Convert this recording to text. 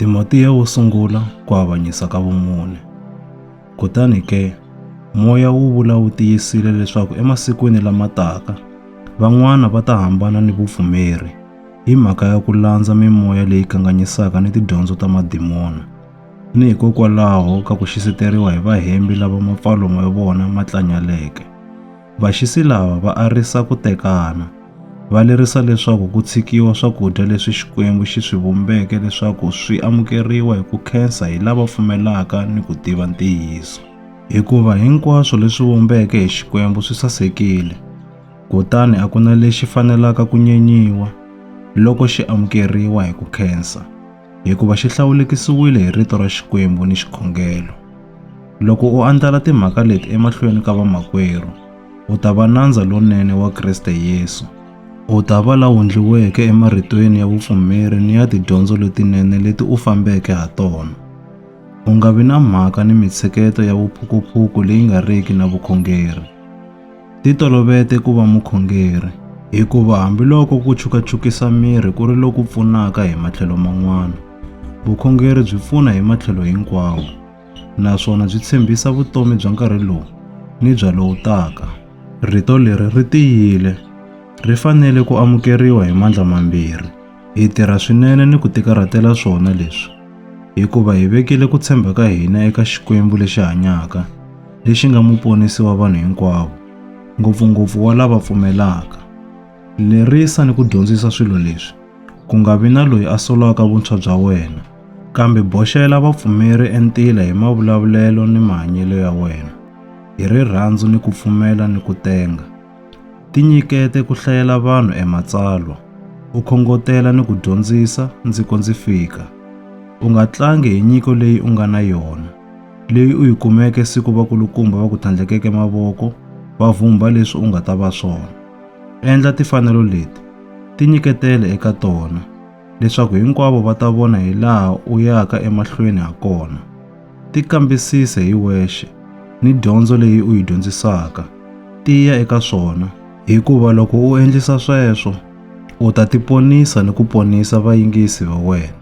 Timotiya wo sungula ku avanyisa ka vumune. Kutani ke, moya wu vula wu tiyisile leswaku emasikwini lama taka, van'wana va ta hambana ni vupfumeri hi mhaka ya ku landza mimoya leyi kanganyisaka ni tidyondzo ta madimona, ni hikokwalaho ka ku xisiteriwa hi vahembi lava mapfalo ma vona ma tlanyaleke. Vaxisi lava va arisa ku tekana. Va lerisa leswaku ku tshikiwa swakudya leswi Xikwembu xi swi vumbeke leswaku swi amukeriwa hi ku khensa hi lava pfumelaka ni ku tiva ntiyiso. Hikuva hinkwaswo leswi vumbeke hi Xikwembu swi sasekile, kutani a ku na lexi fanelaka ku nyenyiwa loko xi amukeriwa hi ku khensa. hikuva xi hlawulekisiwile hi rito ra Xikwembu ni xikhongelo. Loko u andlala timhaka leti emahlweni ka vamakwerhu, u ta va nandza lonene wa Kriste Yesu. U ta va la wundliweke emaritweni ya vupfumeri ni ya tidyondzo letinene leti u fambeke ha tona. U nga vi na mhaka ni mitsheketo ya vuphukuphuku leyi nga riki na vukhongeri. Ti tolovete ku va mukhongeri, hikuva hambiloko ku chukachukisa miri ku ri loku pfunaka hi matlhelo man'wana, vukhongeri byi pfuna hi matlhelo hinkwawo naswona byi tshembisa vutomi bya nkarhi lowu ni bya lowu taka. Rito leri ri tiyile, ri fanele ku amukeriwa hi mandla mambirhi. Hi tirha swinene ni ku tikarhatela swona leswi, hikuva hi vekile ku tshemba ka hina eka Xikwembu lexi hanyaka, lexi nga muponisi wa vanhu hinkwavo, ngopfungopfu wa lava pfumelaka. Lerisa ni ku dyondzisa swilo leswi, ku nga vi na loyi a solaka vuntshwa bya wena, kambe boxela vapfumeri entila hi mavulavulelo ni mahanyelo ya wena, hi rirhandzu ni ku pfumela ni ku tenga. Tinyikete ku hlayela vanhu e matsalwa, u khongotela ni ku dyondzisa ndzi ko ndzi fika. U nga tlangi hi nyiko leyi u nga na yona, leyi u yi kumeke siku vakulukumba va ku tlhandlekeke mavoko va vhumbha leswi u nga ta va swona. Endla tifanelo leti, tinyiketele eka tona. leswaku hinkwavo va ta vona hi laha u yaka emahlweni ha kona. Tikambisise hi wexe ni dyondzo leyi u yi dyondzisaka. Tiya eka swona, hikuva loko u endlisa sweswo, u ta tiponisa ni ku ponisa vayingisi va wena.